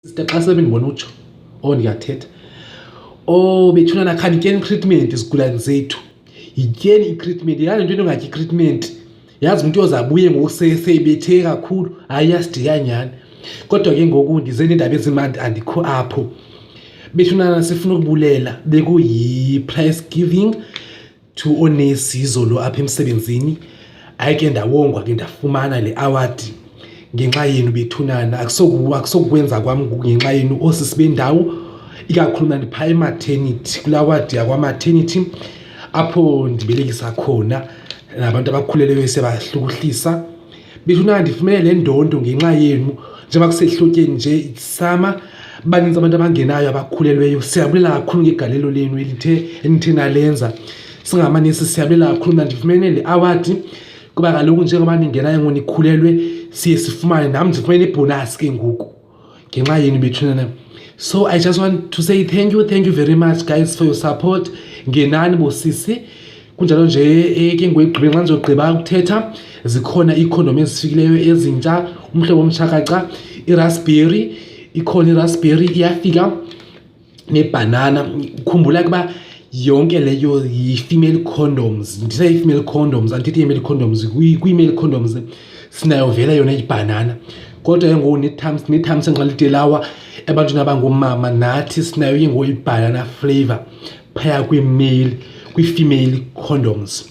Sister xa sebe ndibona utsho or ndiyathetha or oh, bethunana khani yityeni itreatment izigulane zethu yityeni itreatment yale nto into engatyi itreatment yazi umntu yozabuye ngoku seyibethe kakhulu hayi iyasidika nyhani kodwa ke ngoku ndize neendaba ezimandi andikho apho bethunana sifuna ukubulela bekuyi-price giving to onesi izolo apha emsebenzini ayike ndawongwa ke ndafumana le award ngenxa yenu bethunana akusokwenza kwam ngenxa yenu oosisi bendawo ikakhulu nandiphaa ematernity kulaa wadi yakwamaternity apho ndibelekisa khona nabantu abakhuleleyo sebahlukuhlisa Bethuna ndifumene le ndondo ngenxa yenu njengoba kusehlotyeni nje sama baninzi abantu abangenayo abakhulelweyo siyabulela kakhulu ngegalelo lenu elithe enithe nalenza singamanisi siyabulela kakhulu mna ndifumene le awadi kuba kaloku njengoba ningenayo ngonikhulelwe siye sifumane nam ndifumene ibhonasi ke ngoku ngenxa yenu bethunana so i just want to say thank you thank you very much guys for your support ngenani bosisi kunjalo nje eh, ke ngoyigqibe nxa ndizogqiba ukuthetha zikhona iikhondom ezifikileyo ezintsha umhlobo omtshakaca iraspberry ikhona iraspberry iyafika nebhanana khumbula ukuba yonke leyo yi-female condoms ndithe i-female condoms andithethi i-male condoms kwi-male condoms sinayo vela yona ibhanana kodwa ke ngoku ne-times ne-times enxalitelawa ebantwini abangoomama nathi sinayo ke ngoku ibhanana flavor phaya kwi-male kwi-female condoms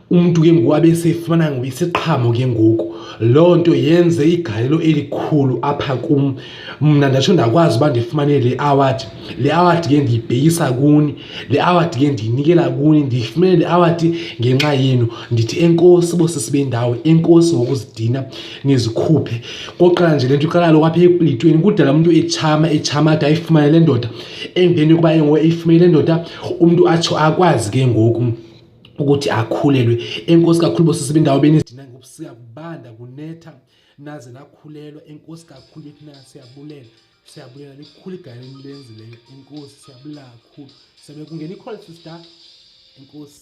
umntu ke ngoku abesefumana ngoku isiqhamo ke ngoku loo nto yenze igalelo elikhulu apha kum mna ndatsho ndakwazi uba ndifumane le award le award ke ndiyibhekisa kuni le award ke ndiyinikela kuni ndiyifumene le award ngenxa yenu ndithi enkosi bosisi bendawo enkosi ngokuzidina nizikhuphe koqala nje le nto iqala loku apha ekulitweni kudala umntu etshama etshama ade ayifumane le ndoda emveni yokuba engoku eyifumene le ndoda umntu atsho akwazi ke ngoku ukuthi akhulelwe enkosi kakhulu bosisi bendawo benidina ngobusika kubanda kunetha naze nakhulelwa enkosi kakhulu bethi na siyabulela siyabulela likhulu igayelo nilenzileyo enkosi siyabulala kakhulu siyabe kungena i-call sister enkosi